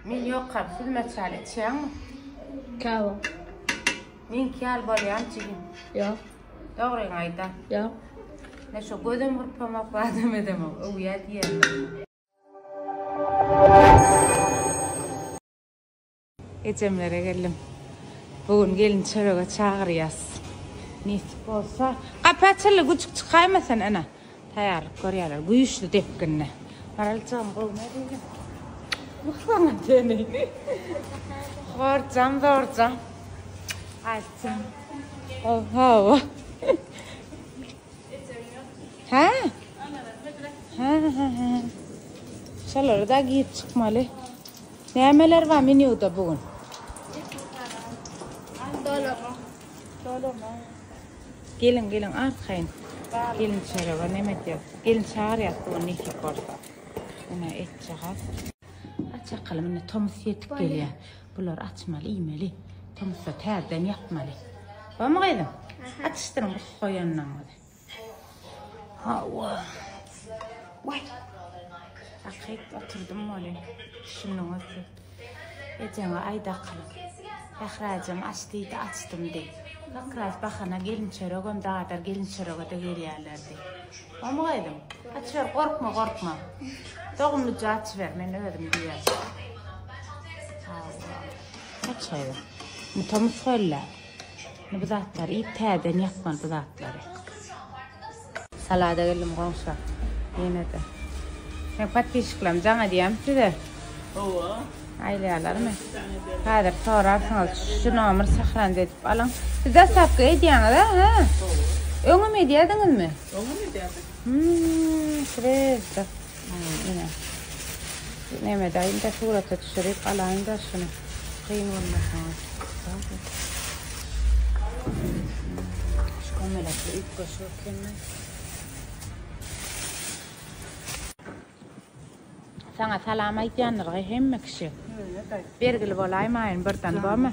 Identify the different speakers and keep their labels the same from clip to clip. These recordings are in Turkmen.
Speaker 1: Men ýokam, siz meçhal içýäňmi? Kawa. Meňki ýaly bolýam jigim. Ýok.
Speaker 2: Dogryňy
Speaker 1: aýda. Ýok.
Speaker 2: Men şu
Speaker 1: gözüm gurpamak badam edemok. Öwýä diýýärler. Ejemlere geldim. Bu gün gelin çörege çagyrýas. Nesip bolsa. Gapy açyldy, güjük çykaýma sen ene. Taýýarlyk görýärler güýçli depginde. Maraljygym gowy nädýeň? Muksaňa teni. Horjam, zorjam. Aýtjam. Gowy hawa. Hä? Hä, hä, hä. Şolary da giýip çykmaly. Nämeler bar menýuda bu gün? Dolama. Dolama. Geliň, geliň, arkaýyn. Gelinçerege neme edýäs? Gelin çagyrýas bu gün nesip bolsa. Ine etjagaz. Aç akalym, indi tomus ýetip gelýär. Bulary açmaly, iýmeli. Tomusda täzeden ýapmaly. Bormy gyzym? Atyşdyryň goýanlaryňyzy. Hawa. Way. Akyp oturdym bolýa. Şunuň özi. Ejeňe aýda akylyp. Bahrajem aç diýdi, açdym de. Bahraç bahana gelin çöregem dadar, gelin çörege-de gelýärler de. Omy gyzym? Açyber, gorkma, gorkma. Dogumlyja açyber, men özüm diýýän. Hawa. Aç gyzym. Muta musgalla. Indi bu zatlary iýip täzeden ýapmaly bu zatlary. Salada geldim goňşa. Ýenede. Meň patpişiklerim jaň edýämi size? Hawa. Aýlaýarlarmy? Häzir sorarsyňyz. Şu nomer sahranda edip alyň. Siz daslapky edýäňiz a? Hä? Öňem edýärdiňizmi? Öňem edýärdik.
Speaker 2: Hmm, şureýta.
Speaker 1: Ine. Näme edaýin-de, surata düşürip alaýyn-da şuny. Kyn bolmasa. Şu kömelekli üýtgeşik ekeni. Saňa salam aýdýandyr-gy hemme kişi. Bergili bolaýmaýyn birden, bormy?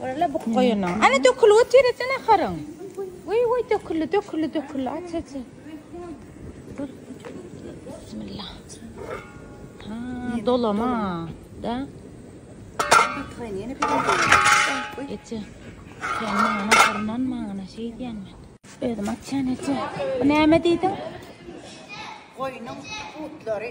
Speaker 1: Görle bu goýunyň. Ana dökülip otyr etene haryn. Goý goý döküldi, döküldi, döküldi. Aç aç. Dur. Bismillah. Ha, dolama. Da. Atgaýyn
Speaker 3: ýene bir. Eti.
Speaker 1: Sen maňa harman maňa şey diýen men. Özüm açan eti. Bu näme diýdiň?
Speaker 3: Goýunyň butlary.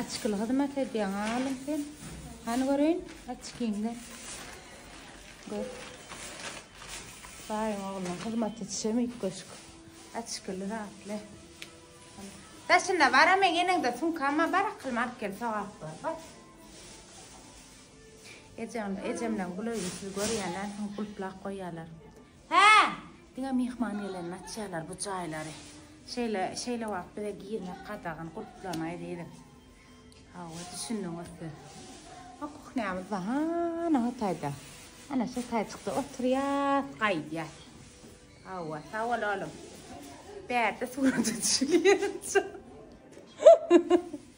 Speaker 1: Açkyly hyzmat edýäň alym sen. Hany göreýin açkyňda. Gör. Baýyň oglunyň hyzmaty çemi köşk. Açkyly zatly. Daşynda bara men ýeneňde sunkama bar akylma alyp gel sogap bar. Bak. Ejemle, ejemle gulaýyň siz görýänler, gulplap goýýarlar. Hää! Diňe myhman gelende açýarlar bu jaýlary. Şeýle, şeýle wagt bize girmek gadagan, gulplanaý diýip. Hawa, düşündiňiz siz. O kuhnýamyz bar, hana o taýda. Ana şu taýjykda oturýas, gaýdýas. Hawa, sag bol oglum. Bärde surata düşülýär.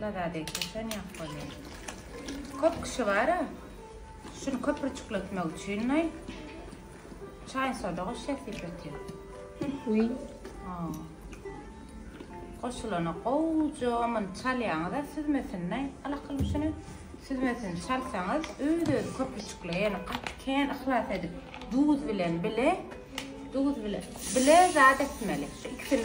Speaker 1: Nazar degseşen ýok bolýar. Kop kişi bara şuny köpürçükletmek üçin noý çaý soda goşýar sypatýar. Wiý.
Speaker 2: Ha.
Speaker 1: Goşulana gowja muny çalýaňyza süzmesin noý alakyl şuny süzmesini çalsaňyz öz özi köpürçükleýär ýöne gaty kän yhlas edip duz bilen bile duz bile bile zat etmeli şu ikisini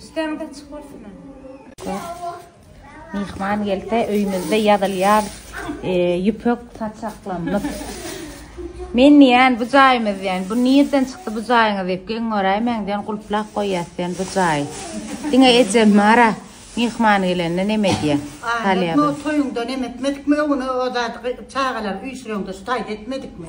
Speaker 1: Üstüňde çykursyna. Myhman gelse öýümizde ýazylýar ýüpek saçaklarymyz. Men diýýän bu jaýymyz diýýän. Bu nirden çykdy bu jaýyňyz diýip geň göräýmäň diýýän gulplap goýýas diýýän bu jaýy. Diňe ejem bara myhman gelende neme edýär. Aýratyn o toýuňda neme etmedikmi öňüne o zady çagalar
Speaker 3: üýşüreňde şu taýda etmedikmi.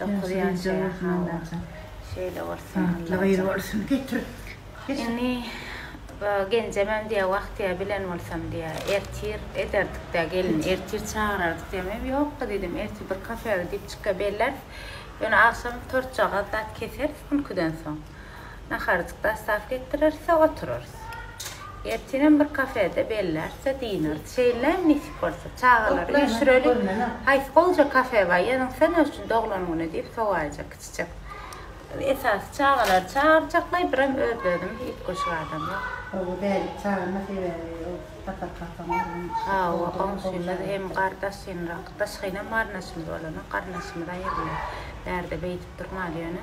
Speaker 1: Dokuz ýaşaýar hawa. Şeýle bolsun
Speaker 3: Allajan.
Speaker 1: Indi genjemem diýýär wagtyýa bilen bolsam diýýär ertir ederdikdä gelin ertir çagyrardyk diýýär men ýokka diýdim ertir bir kafega gidip çyka belläris ýöne agşam tortjagaz zat keseris ülküden soň Naharyjyk dassap getirirse, oturarys. Ertinem bir kafede bellärse, dynarys. Şeýlem nesip bolsa, çagalary üýşüreli. Haýsy gowja kafe bar, ýazynsa ne üçin doglan güni diýip sowaýjak kiçijek. Esasy çagalary çagyrjaklaý, birem öz-özüm üýtgeşik adam ýok. Gowy däl, çagyrma
Speaker 3: sebäbi ol tatar-kasaň ogluny. Hawa,
Speaker 1: goňşymyz hem gardaşynrak. Daşgynam garnaşymyz bolanok, garnaşymyz aýyrylýar. Bärde beýdip durmaly ýöne.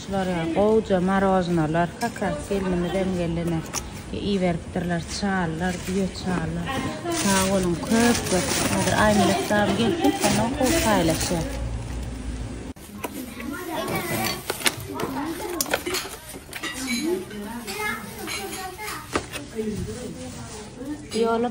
Speaker 1: Şular ýa gowja maroznolar kakras gelnimizem gelene iberipdirler çalylar düýe çalylar sag boluň köp köp häzir aýmelek dam gelsin ondan gowy paýlaşýas. Ýoly.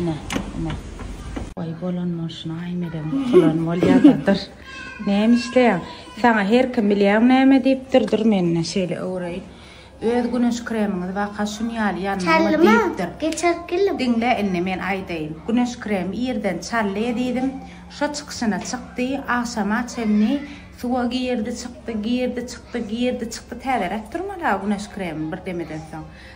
Speaker 1: Ine, ine. Oy bolan bolşuna ay medegiň kulan bolýadadyr. Näme işleýäň? Saňa her kim bilýän näme diýipdir, dur menne şeýle öwreýin. Öz güneş kremiňiz waka şun ýaly ýanmaly diýipdir.
Speaker 4: Geçer
Speaker 1: gelin.
Speaker 4: Diňle indi men
Speaker 1: aýdaýyn. Güneş kremi irden çally edýdim. Şo çykyşyna çykdy, agşama çenli suwa girdi, çykdy, girdi, çykdy, girdi, çykdy. Täzeräk durmaly-a güneş kremi bir demeden soň.